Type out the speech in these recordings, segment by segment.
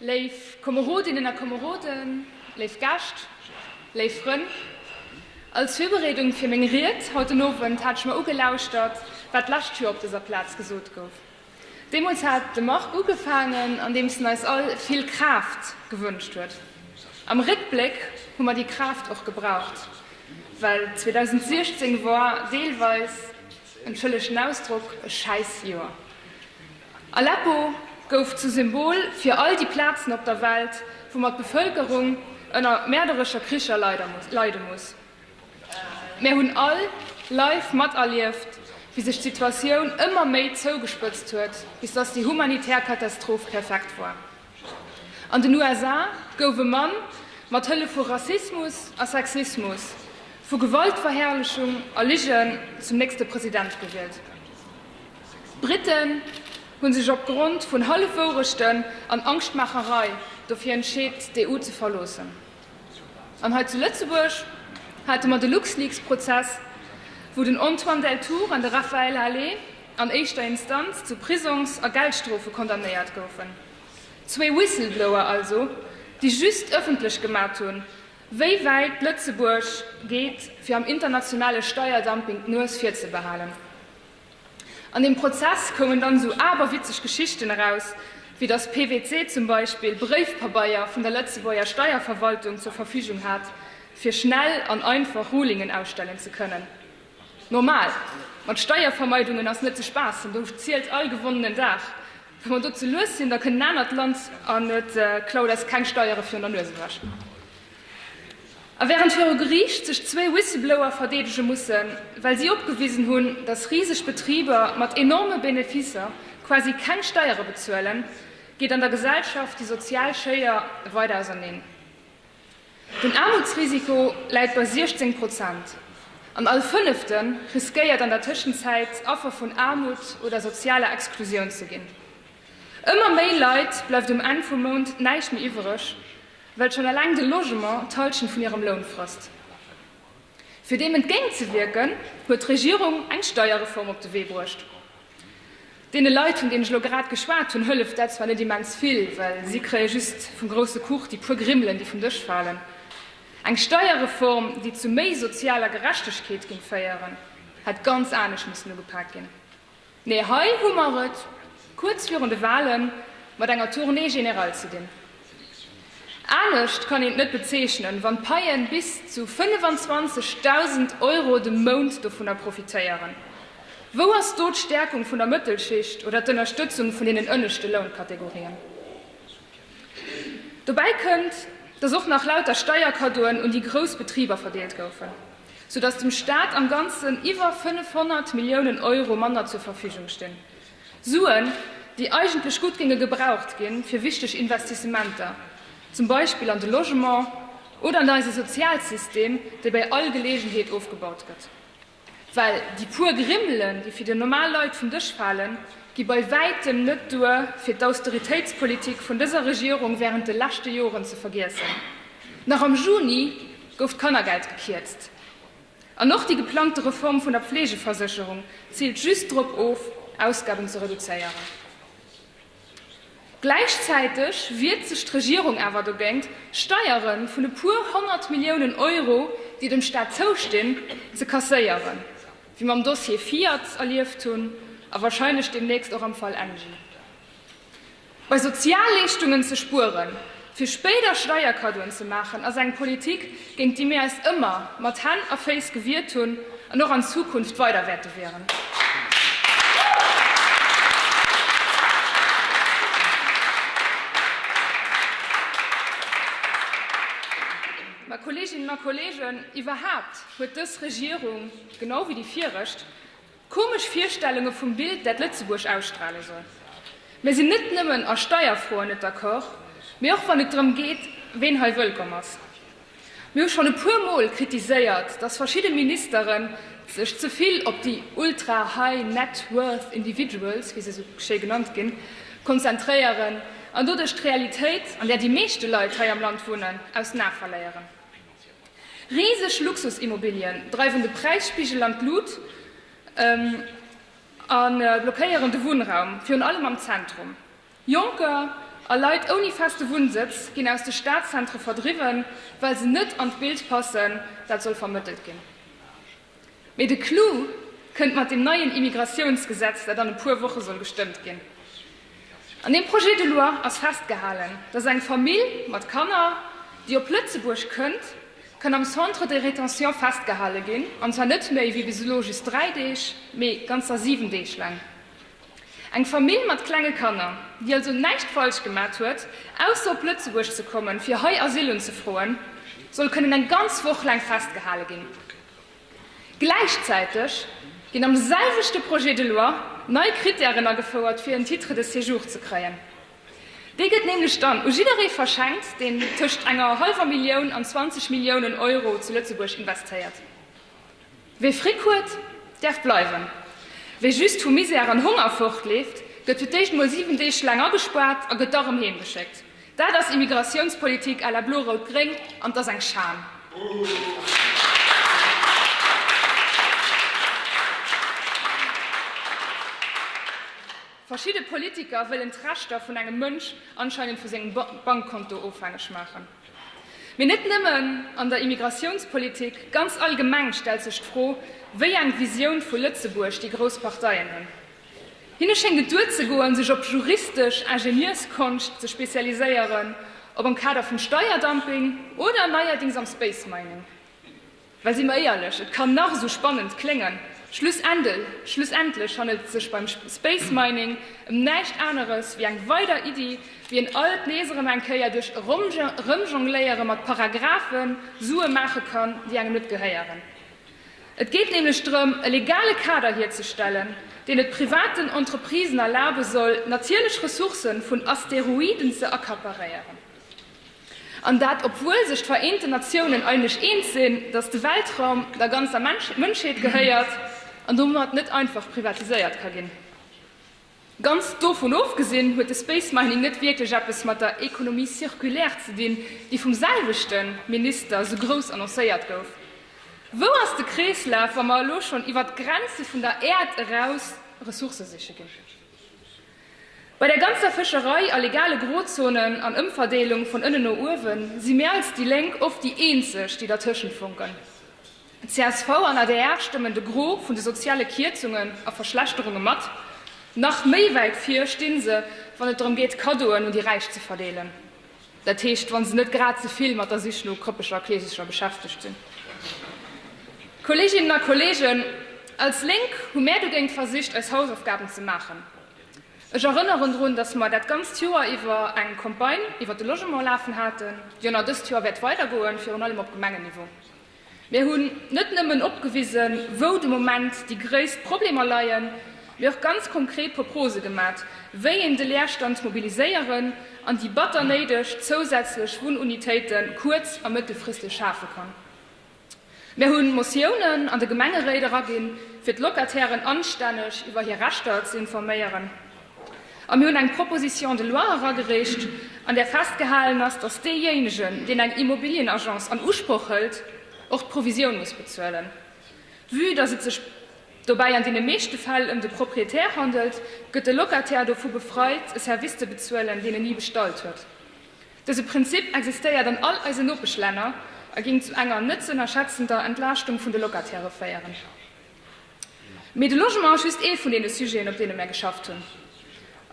Léif Komerodinnen a Komeroden, léif Gäscht, léif Frënn, als Virbereedung fir meng Ried haut den Owend hat ech mer ugelauschtert, wat d'lescht Joer op dëser Plaz gesot gouf. Deemools hat de Marc ugefaangen, andeems en eis all vill Kraaft gewënscht huet. Am Réckbléck hu mer déi Kraaft och gebraucht, well 2016 war deelweis, entschëllegt den Ausdrock, e Schäissjoer. Aleppo gouf zum Symbol fir all déi Plazen op der Welt, wou mer d'Bevëlkerung ënner mäerderescher Kricher leide muss. Mär hunn all live materlieft, wéi sech d'Situatioun ëmmer méi zougespëtzt huet, bis datt déi humanitär Katastroph perfekt war. An den USA gouf e Mann mat Hëllef vu Rassismus a Sexismus, vu Gewaltverherrlechung a Ligen zum nächste President gewielt. D'Briten hu sech op Grond vun Hallefwourechten an Angschtmaacherei dofir entscheet, d'EU ze verloossen. An hei zu Lëtzebuerg hate mer de LuxLeaks-Prozess, wou den Antoine Deltour an de Raphaël Halet an éischter Instanz zu Prisongs a Geldstrofe condamnéiert goufen. Zwee Whistleblower also, déi just ëffentlech gemat hunn, wéi wäit Lëtzebuerg geet, fir am internationale Steierdumping d'Nues virzebehalen. An deem Prozess koumen dann esou aberwitzeg Geschichten eraus, wéi datt PWC zum Beispill Bréifpabeier vun der Lëtzebuerger Steierverwaltung zur Verfügung hat, fir schnell an einfach Rulingen ausstellen ze kënnen. Normal, mat Steiervermeidungen ass net ze spaassen, do zielt all gewonnenen Dag. Wa mer do ze lues sinn, da kënnt en anert Land an et klaut eis keng Steiere virun der Nues ewech. A wärend viru Geriicht sech zwee Whistleblower verdeedege mussen, well si opgewisen hunn, datt riseg Betriber mat enorme Beneficer quasi keng Steiere bezuelen, geet an der Gesellschaft déi sozial Schéier weider auserneen. Den Aarmutsrisiko läit bei 16 Prozent, an all Fënnefte riskéiert an der Tëschenzäit Affer vun Aarmut oder sozialer Exklusioun ze ginn. Ëmmer méi Leit bleift um Enn vum Mount näischt méi iwwereg. well schonn eleng de Logement d'Halschent vun hirem Loun frësst. Fir deem entgéintzewierken, huet d'Regierung eng Steierreform op de Wee bruecht. Deene Leit, vun deenen ech elo grad geschwat hunn, hëlleft dat zwar net immens vill, well si kréie just vum grousse Kuch déi puer Grimmelen, déi vum Dësch falen. Eng Steierreform, déi zu méi sozialer Gerechtegkeet géing féieren, hätt ganz anescht missen ugepaakt ginn. Mee hei hu mer et kuerz virun de Wahle mat enger Tournée générale ze dinn. Anescht kann een et net bezeechnen, wann d'Paie bis zu 25.000 Euro de Mount dovunner profitéieren. Wou ass do d'Stärkung vun der Mëttelschicht oder d'Ënnerstëtzung vun deenen ënneschte Lounkategorien? Dobäi kënnt, dass och nach lauter Steierkaddoen un déi grouss Betriber verdeelt goufen. sou dass dem Staat am Ganzen iwwer 500 Milliounen Euro manner zur Verfügung stinn, Suen, déi eigentlech gutt géinge gebraucht ginn, fir wichteg Investissementer, zum Beispill an de Logement oder an eise Sozialsystem, dee bei all Geleegenheet ofgebaut gëtt. Well déi puer Grimmelen, déi fir déi normal Leit vum Dësch falen, gi bei wäitem net duer, fir d'Austeritéitspolitik vun dëser Regierung wärend de leschte Joren ze vergiessen. Nach am Juni. gouf d'Kannergeld gekierzt. An och déi geplangte Reform vun der Pflegeversécherung ziilt just drop of, Ausgaben ze reduzéieren. Gläichzäiteg wiert sech d'Regierung awer dogéint, Steiere vun e puer honnert Milliounen Euro, déi dem Staat zoustinn, ze kasséieren, wéi mer am Dossier Fiat erlieft hunn a wahrscheinlech deemnächst och am Fall Engie. Bei Sozialleeschtungen ze spueren, fir spéider Steierkaddoen ze maachen, ass eng Politik, géint déi mir eis ëmmer mat Hänn a Féiss gewiert hunn an och an Zukunft weider wäerte wieren. Mä, Kolleeginnen a Kolleegen, iwwerhaapt huet dës Regierung, genau wéi déi viregt, Komesch Virstellunge vum Bild dat Lëtzebuerg ausstrale soll. Mir sinn net nëmmen a Steierfroen net d'accord, mee och wann et drëm geet ween hei wëllkomm ass. Mir hu schonn e puer mol kritiséiert, datt verschidde Ministere sech ze vill op déi ultra high net worth individuals, wéi se esou schéi genannt ginn, konzentréieren an doduerch d'Realitéit, an där déi meeschte Leit hei am Land wunnen, aus den Ae verléieren. Riseg Luxusimmobilien dreiwen de Präisspigel an d'Lut a blockéieren de Wunnraum, virun allem am Zentrum. Jonker a Leit ouni feste Wunnsëtz ginn aus de Stadzentre verdriwwen, well se net an d'Bild passen, dat soll vermëttelt ginn. Mee de Clou kënnt mat deem neien Immigratiounsgesetz, dat an e puer Woche soll gestëmmt ginn. An deem Projet de loi ass festgehalen, dass eng Famill mat Kanner, déi op Lëtzebuerg kënnt, kann am Centre de rétention festgehale ginn, an zwar net méi wéi bis elo just dräi Deeg, mee ganzer siwen Deeg laang. Eng Famill mat klenge Kanner, déi also näischt falsch gemat huet, ausser op Lëtzebuerg ze kommen, fir hei Asyl unzefroen, soll kënnen eng ganz Woch laang festgehale ginn. Gläichzäiteg ginn am selwechte Projet de loi nei Krittären agefouert, fir en Titre de séjour ze kréien. Dee gëtt nämlech dann u jidderee verschenkt, deen tëscht enger hallwer Millioun an 20 Milliounen Euro zu Lëtzebuerg investéiert. Wie Fric huet, däerf bleiwen. Wie just vu Misär an Honger fortleeft, gëtt fir d'éischt mol 7 Deeg laang agespaart a gëtt da rëm heemgeschéckt. Dat ass Immigratiounspolitik à la blo-rout-gréng an et ass eng Schan. Verschidde Politiker wëllen d'Rechter vun engem Mënsch anscheinend vu sengem Bankkonto ofhängeg maachen. Mee net nëmmen an der Immigratiounspolitik, ganz allgemeng stellt sech d'Fro, wéi eng Visioun vu Lëtzebuerg déi grouss Parteien hunn. Hinne schéngt et duerzegoen, sech op juristesch Ingenieurskonscht ze spezialiséieren, ob am Kader vum Steierdumping oder neierdings am Space Mining. Well si mer éierlech, et kann nach esou spannend kléngen, schlussendlech handelt et sech beim Space Mining ëm näischt aneres wéi eng weider Iddi, wéi een alt nees erëm eng Kéier duerch Erëmjongléiere mat Paragraphen Sue maache kann, déi engem net gehéieren. Et geet nämlech drëm, e legale Kader hierzestellen, deen et privaten Entreprisen erlabe soll, natierlech Ressourcë vun Asteroiden ze accaparéieren. An dat obwuel sech d'Vereenten Natiounen eineg eens sinn, datt de Weltraum der ganzer Mënschheet gehéiert an domat net einfach privatiséiert ka ginn. Ganz dovun ofgesinn huet de Space Mining net wierklech eppes mat der Économie circulaire ze dinn, déi vum selwechte Minister esou grouss annoncéiert gouf. Wou ass de Kreeslaf, wa mer elo schonn iwwert d'Grenze vun der Äerd eraus Ressourcë siche ginn? Bei der ganzer Fëscherei a legale Grozonen an Ëmverdeelung vun ënnen no uewen, si mir als déi Lénk oft déi eenzeg, déi dertëschent funken. Csv an adr stëmmen de Gros vun de soziale Kierzungen a Verschlechterunge mat. Nach méi wäit vir stinn se, wann et drëm geet Cadeauen un déi Räich ze verdeelen. dat heescht wa se net grad ze vill mat der Sich no krëppeger Kleesecher beschäftegt sinn. Kolleeginnen a Kolleegen, als Lénk hu mär dogéint versicht eis Hausaufgaben ze maachen. Ech erënneren drun, datt mer dat ganzt Joer iwwer eng Campagne iwwer de Logement lafen haten, déi och nach dëst Joer wäert weidergoen, virun allem op Gemengenniveau. Mir hunn net nëmmen opgewisen, wou de Moment déi gréisst Problemer leien, mee och ganz konkret Proprose gemat, wéi een de Leerstand mobiliséieren an déi batter néideg zousätzlech Wunnunitéite kuerz a mëttelfristeg schafe kann. Mir hu Motiounen an de Gemengeréit eraginn, fir d'Locatairen anstänneg iwwer hir Rechter ze informéieren. A mir hunn eng Proposition de loi eragereecht, an där festgehalen ass, dass deejéinegen, deen eng Immobilienagence an Usproch hëlt, och d'Provisioun muss bezuelen. Vue dass et sech dobäi an deene meeschte Fäll ëm de Proprietär handelt, gëtt de Locataire dovu befreit, e Service ze bezuelen, deen en ni bestallt huet. Dëse Prinzip existéiert an all eisen Nopeschlänner a géing zu enger net ze ënnerschätzender Entlaaschtung vun de Locatairë féieren. Mee de Logement ass just ee vun deene Sujeten, op deene mär geschafft hunn,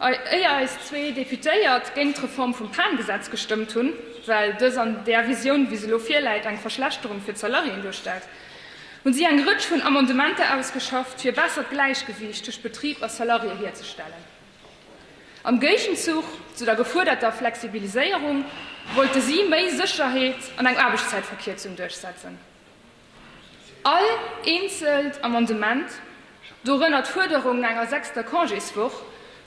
éier eis zwee Deputéiert géint d'Reform vum PAN-Gesetz gestëmmt hunn, well dës an där Visioun, wéi se elo virläit, eng Verschlechterung fir d'Salariéen duerstellt, hu si eng Rëtsch vun Amendementer ausgeschafft, fir e bessert Gläichgewiicht tëscht Betrib a Salarié hierzestellen. Am Géigenzuch zu der gefuerderter Flexibiliséierung wollte si méi Sécherheet an eng Aarbechtszäitverkierzung duerchsetzen. All eenzelt Amendement, dorënner d'Fuerderung no enger sechster Congéswoch,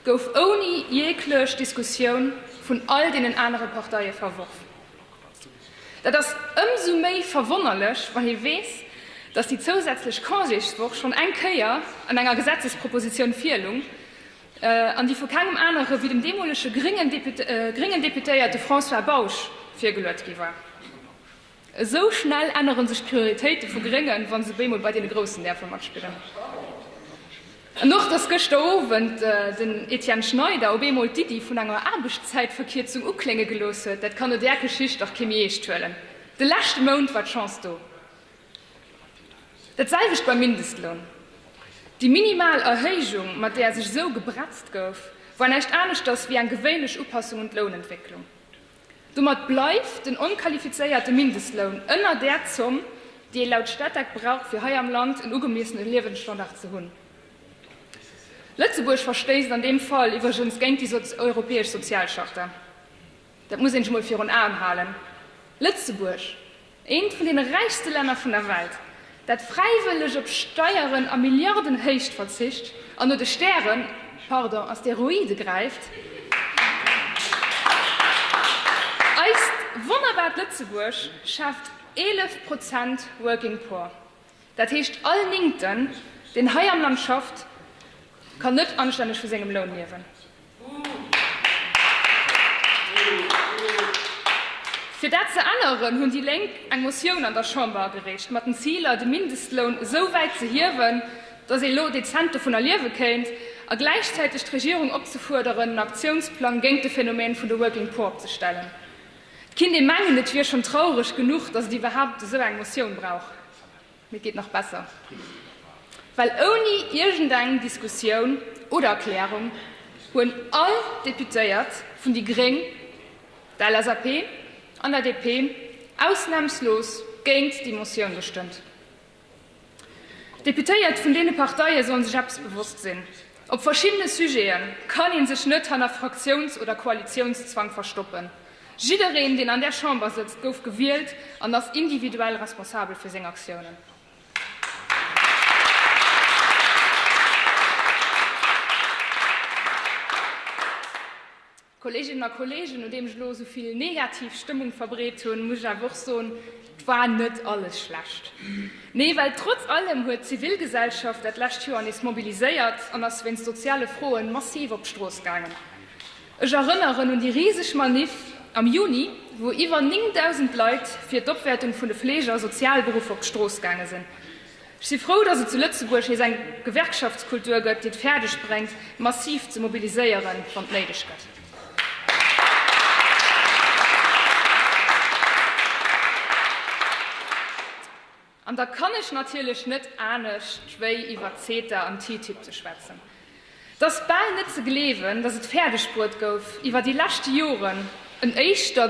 gouf ouni jeeglech Diskussioun vun all deenen anere Parteie verworf. Dat ass ëmsou méi verwonnerlech, wann ee weess, datt déi zousätzlech Congéswoch schonn eng Kéier an enger Gesetzespropositioun virlung an déi vu kengem anere wéi dem deemolege gréngen Deputéierte François Bausch virgeluet gi war. Esou schnell änneren sech d'Prioritéite vu Gréngen, wa se bémol bei deene Groussen däerfe matspillen. An och, dass gëschter Owend den Etienne Schneider op eemol d'Iddi vun enger Aarbechtszäitverkierzung uklénge gelooss huet, dat kann no där Geschicht dach kee méi eescht huelen. De leschte Mount war d'Chance do. Dat selwecht beim Mindestloun. Déi minimal Erhéijung, mat där sech esou gebretzt gouf, war näischt aneschters wéi eng gewéinlech Upassung un d'Lounentwécklung. Domat bleift den onqualifizéierte Mindestloun ënner där Zomm, déi ee laut Statec brauch, fir hei am Land en ugemiessene Liewensstandard ze hunn. Lëtzebuerg verstéisst an deem Fall iwwregens géint déi europäesch Sozialcharta. Dat muss ee sech emol virun Aen halen. Lëtzebuerg! Eent vun deene räichste Länner vun der Welt, dat fräiwëlleg op Steieren a Milliardenhéicht verzicht an no de Stären, pardon, Asteroide gräift, eist wonnerbart Lëtzebuerg schaaft 11 Prozent Working Poor. Dat heescht, all Néngten, deen hei am Land schafft, kann net anstänneg vu sengem Loun liewen. Fir dat ze änneren, hunn déi Lénk eng Motioun an der Chamber agereecht, mat den Ziler, de Mindestloun esou wäit ze hiewen, dass ee lo dezent dovun erliewe kéint, a gläichzäiteg d'Regierung opzefuerderen, en Aktiounsplang géint de Phänomen vun de Working Poor opzestellen. Et kinnt ee mengen, et wier schonn traureg genuch, datt et iwwerhaapt esou eng Motioun brauch, mee et geet nach besser, well ouni iergendeng Diskussioun oder Erklärung hunn all d'Deputéiert vun déi Gréng, der LSAP an der DP ausnamslos géint déi Motioun gestëmmt. D'Deputéiert vun deene Parteie sollen sech eppes bewosst sinn, Op verschiddene Sujete kann ee sech net hanner Fraktiouns oder Koalitiounszwang verstoppen. Jiddereen, deen an där Chamber sëtzt, gouf gewielt an ass individuell responsabel fir seng Aktiounen. Kolleeginnen a Kolleegen, nodeem ech elo esou vill negativ Stëmmung verbreet hunn, muss ech awer och soen, Et war net alles schlecht. Nee, well trotz allem huet d'Zivilgesellschaft dat lescht Joer nees mobiliséiert an ass wéinst soziale Froen massiv op d'Strooss gaangen. Ech erënneren un déi riseg Maniff am Juni, wou iwwer 9.000 Leit fir d'Opwäertung vun de Fleege a Sozialberuffer op d'Strooss gaange sinn. Ech si frou, dass et zu Lëtzebuerg nees eng Gewerkschaftskultur gëtt, déi et fäerdeg bréngt, massiv ze mobiliséieren, wann et néideg gëtt. An da kann ech natierlech net anescht, wéi iwwer CETA an TTIP ze schwätzen. 't ass bal net ze gleewen, datt et fäerdeg bruet gouf, iwwer déi leschte Joren en éischter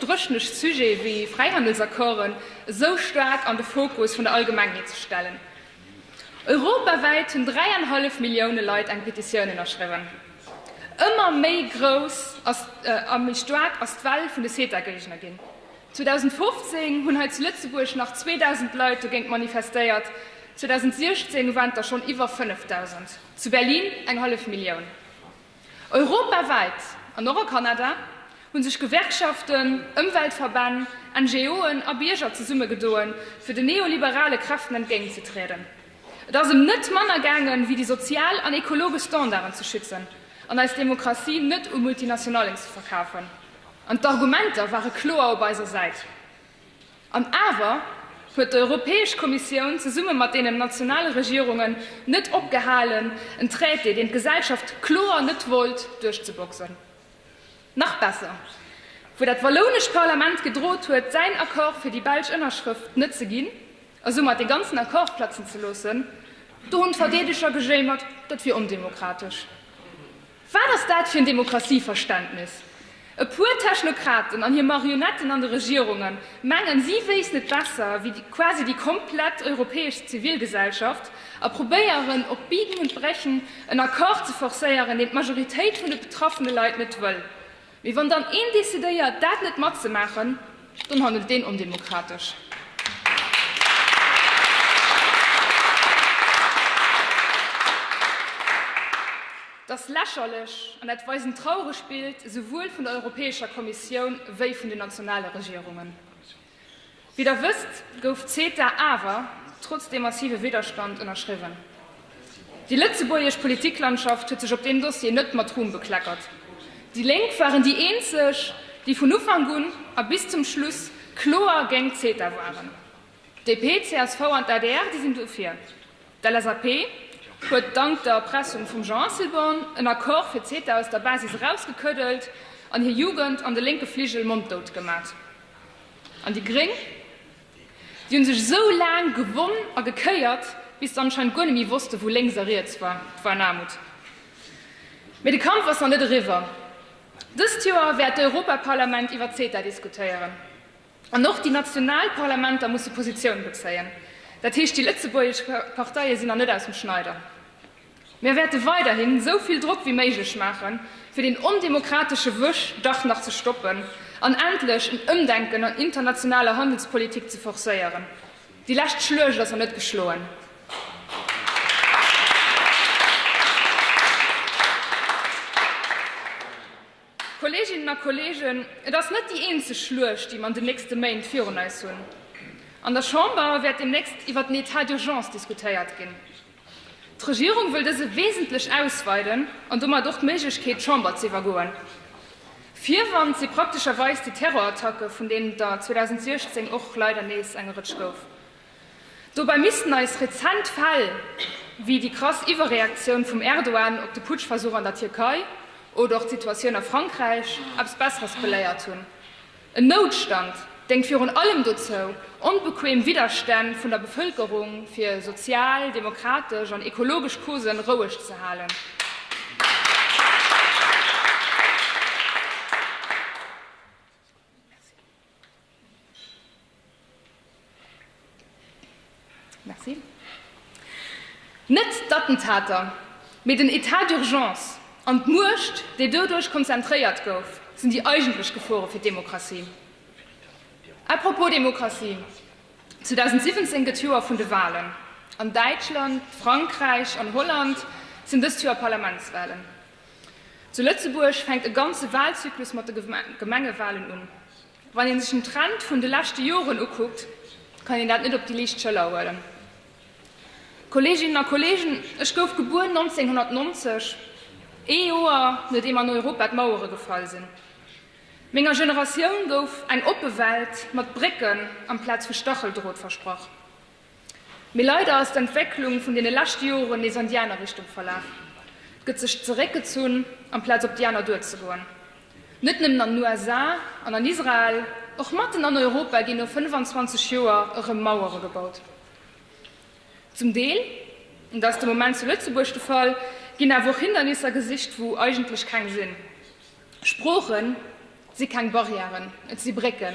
dréchnecht Sujet wéi Fräihandelsaccorden esou staark an de Fokus vun der Allgemengheet ze stellen. Europawäit hunn dräianhallef Millioune Leit eng Petitioun ënnerschriwwen. Ëmmer méi grouss a méi staark ass d'Well vun de CETA-Géigner ginn. 2015 hunn hei zu Lëtzebuerg nach 2.000 Leit dogéint manifestéiert, 2016 waren et der schonn iwwer 5.000, zu Berlin eng hallef Millioun. Europawäit an och a Kanada hu sech Gewerkschaften, Ëmweltverbänn, NGO'en a Bierger zesummegedoen, fir den neoliberale Kräften entgéintzetrieden. Et ass ëm net manner gaangen, ewéi déi sozial an ekologesch Standarden ze schützen an eis Demokratie net u Multinationallen ze verkafen. An d'Argumenter ware kloer op eiser Säit. An awer huet d'Europäesch Kommissioun zesumme mat deenen nationale Regierungen net opgehalen, en Traité, deen d'Gesellschaft kloer net wollt, duerchzeboxen. Nach besser, wou dat wallounescht Parlament gedroht huet, säin Accord fir déi belsch Ënnerschrëft net ze ginn a soumat dee ganzen Accord platzen ze loossen, do hunn d'Verdeedeger gejéimert, dat wier ondemokratesch. Wat ass dat fir en Demokratieverständnis? E puer Technokraten an hir Marionetten an de Regierunge mengen, si wéissten et besser wéi quasi déi komplett europäesch Zivilgesellschaft a probéieren op Biegen und Brechen en Accord ze forcéieren, deen d'Majoritéit vun de betraffene Leit net wëll. Mee wann dann een decidéiert, dat net matzemaachen, dann handelt deen ondemokratesch. Et ass lächerlech an et weist en trauregt Bild esouwuel vun der Europäescher Kommissioun wéi vun den nationale Regierungen. Wéi der wësst, gouf CETA awer trotz dem massive Widderstand ënnerschriwwen. Déi lëtzebuergesch Politiklandschaft huet sech op deem Dossier net mat Ruhm bekleckert. Déi Lénk waren déi eenzeg, déi vun Ufank un a bis zum Schluss kloer géint CETA waren. DP, csv an d'ADR, déi sinn dofir. D'LSAP huet dank der Erpressung vum Jean Asselborn en Accord fir CETA aus der Basis erausgekëddelt an hir Jugend an de lénke Fligel monddout gemat. An déi Gréng? Déi hunn sech esou laang gewonn a gekéiert, bis se anscheinend guer net méi wosste wou lénks a riets war. War en Aarmut. Mee de Kampf ass nach net eriwwer. Dëst Joer wäert d'Europaparlament iwwer CETA diskutéieren. An och déi national Parlamenter musse Positioun bezéien. Dat heescht, déi lëtzebuergesch Parteie sinn nach net aus dem Schneider. Mir wäerte weiderhin esou vill Drock wéi méiglech maachen, fir deen ondemokratesche Wuerg dach nach ze stoppen an endlech en Ëmdenken an internationaler Handelspolitik ze forcéieren. Déi lescht Schluecht ass nach net geschloen. Kolleeginnen a Kolleegen, et ass net déi eenzeg Schluecht, déi mer an den nächste Méint virun eis hunn. An der Chamber wäert deemnächst iwwert den Etat d'urgence diskutéiert ginn. D'Regierung wëll dëse wesentlech ausweiden an domat och d'Méiglechkeet, d'Chamber ze iwwergoen. Virwand si praktescherweis déi Terrorattacke, vun deenen et der 2016 och leider nees eng Rëtsch gouf. Dobäi missten eis rezent Fäll wéi déi krass Iwwerreaktioun vum Erdogan op de Putschversuch an der Tierkei oder och d'Situatioun a Frankräich eppes Besseres beléiert hunn. En Noutstand déngt virun allem dozou, onbequeem Widderstänn vun der Bevëlkerung fir sozial, demokratesch an ekologesch Cause roueg ze halen. Merci. Net d'Attentater, mee den Etat d'urgence an d'Muecht, déi doduerch konzentréiert gouf, sinn déi eigentlech Gefore fir d'Demokratie. A propos Demokratie, 2017 gëtt Joer vun de Walen. An Däitschland, Frankräich an Holland sinn dëst Joer Parlamentswalen. Zu Lëtzebuerg fänkt e ganze Walzyklus mat de Gemengewalen un. Wann ee sech den Trend vun de leschte Joren ukuckt, kann een dat net op déi liicht Schëller huelen. Kolleeginnen a Kolleegen, ech gouf gebuer 1990, ee Joer nodeem an Europa d'Mauere gefall sinn. Menger Generatioun gouf eng oppe Welt mat Brécken amplaz vu Stacheldrot versprach. Mee leider ass d'Entwécklung vun deene leschte Joren nees an déi aner Richtung verlaf. Et gëtt sech zeréckgezunn, amplaz op déi aner duerzegoen. Net nëmmen an den USA an an Israel, och matten an Europa ginn no 25 Joer erëm Mauere gebaut. Zum Deel, an dat ass de Moment zu Lëtzebuerg de Fall, ginn awer och Hindernisser gesicht, wou eigentlech keng sinn. Sprooche si keng Barrièren, et si Brécken.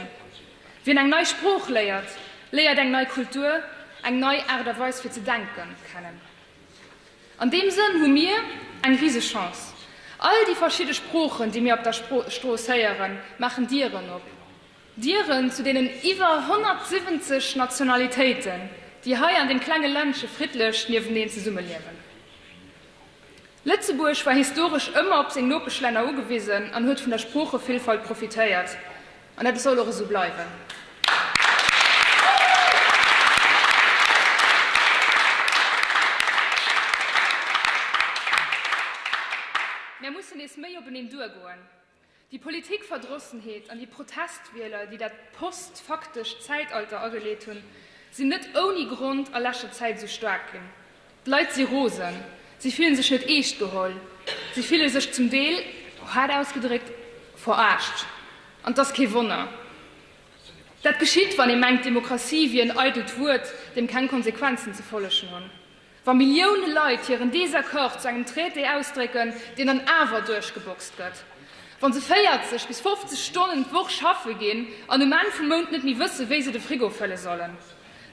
Wien eng nei Sprooch léiert, léiert eng nei Kultur, eng nei Aart a Weis fir ze denke kennen. An deem Sënn hu mir eng riseg Chance. All déi verschidde Sproochen, déi mir op der Strooss héieren, maachen Dieren op, Dieren zu deenen iwwer 170 Nationalitéiten, déi hei an deem klenge Ländche friddlech niefteneen zesummeliewen. Lëtzebuerg war historesch ëmmer op seng Nopeschlänner ugewisen an huet vun der Sproochevillfalt profitéiert. An dat soll och esou bleiwen. Mär mussen nees méi openeen duergoen. Déi Politikverdrossenheet an déi Protestwieler, déi dat post-faktescht Zäitalter ageleet hunn, sinn net ouni Grond a leschter Zäit esou staark ginn. D'Leit si rosen, si fille sech net eescht geholl, si fille sech zum Deel, haart ausgedréckt, veraascht. An et ass kee Wonner. Dat geschitt, wann ee mengt, d'Demokratie wier en eidelt Wuert, deem keng Konsequenzen ze follegen hunn. Wa Millioune Leit hiren Desaccord zu engem Traité ausdrécken, deen dann awer duerchgeboxt gëtt, wa se 40 bis 50 Stonnen d'Woch schaffe ginn an um Enn vum Mount net méi wësse wéi se de Frigo fëlle sollen,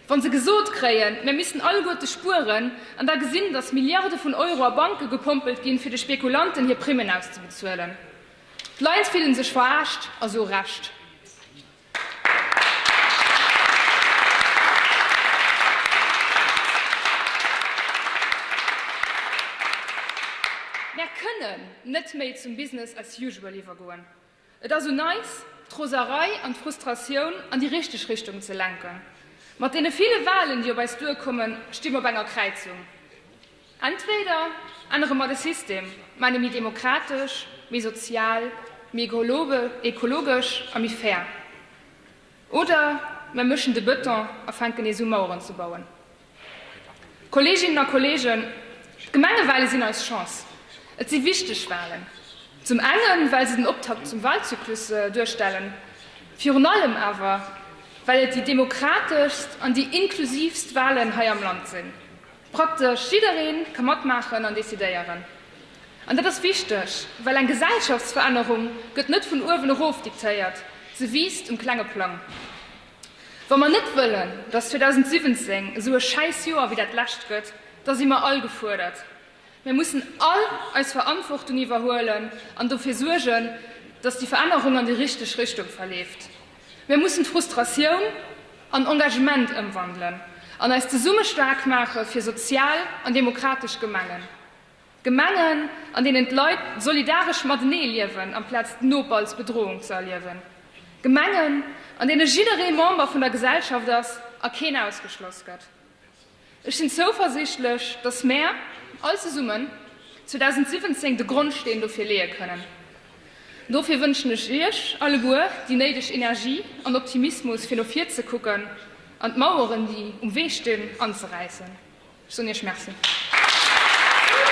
wa se gesot kréien, mir missten alleguerte spueren, an da gesinn, datt Milliarde vun Euro a Banke gepompelt ginn, fir de Spekulanten hir Primmen auszebezuelen. D'Leit fille sech veraascht, a sou Recht. Mär kënnen net méi zum Business as usual iwwergoen. Et as un eis, d'Roserei an d'Frustratioun an déi richteg Richtung ze lenken. Mat deene ville Wahlen, déi op eis duerkommen, sti mer op enger Kräizung. Entweder ännere mer de System, man e méi demokratesch, méi sozial, méi ekologesch a méi fair, oder mer mëschen de Bëton a fänken nees u Maueren ze bauen. Kolleeginnen a Kolleegen, d'Gemengewale sinn eis Chance. Et si wichteg Walen, zum enge well se den Optakt zum Walzyklus duerstellen, virun allem awer well et déi demokrateschst an déi inklusiivst Walen hei am Land sinn. Praktesch jidderee ka matmaachen an decidéieren. An dat ass wichteg, well eng Gesellschaftsverännerung gëtt net vun uewen erof diktéiert, se wiisst um klenge Plang. Wa mer net wëllen, datt 2017 esou e schäiss Joer wéi dat lescht gëtt, da si mer all gefuerdert. Mir mussen all eis Verantwortung iwwerhuelen an dofir suergen, datt déi Verännerung an déi richteg Richtung verleeft. Mir mussen d'Frustratioun an Engagement ëmwandelen an eis zesumme staark maache fir sozial an demokratesch Gemengen. Gemengen, an deenen d'Leit solidaresch matenee liewen amplaz d'Noper als Bedrohung ze erliewen. Gemengen, an deene jidderee Member vun der Gesellschaft ass a keen ausgeschloss gëtt. Ech sinn zouversiichtlech, dass mär all zesummen 2017 de Grondsteen dofir leeë kënnen. Dofir wënschen ech Iech alleguer déi néideg Energie an Optimismus, fir no vir ze kucken an d'Maueren, déi um Wee stinn, anzeräissen. Ech soen Iech Merci.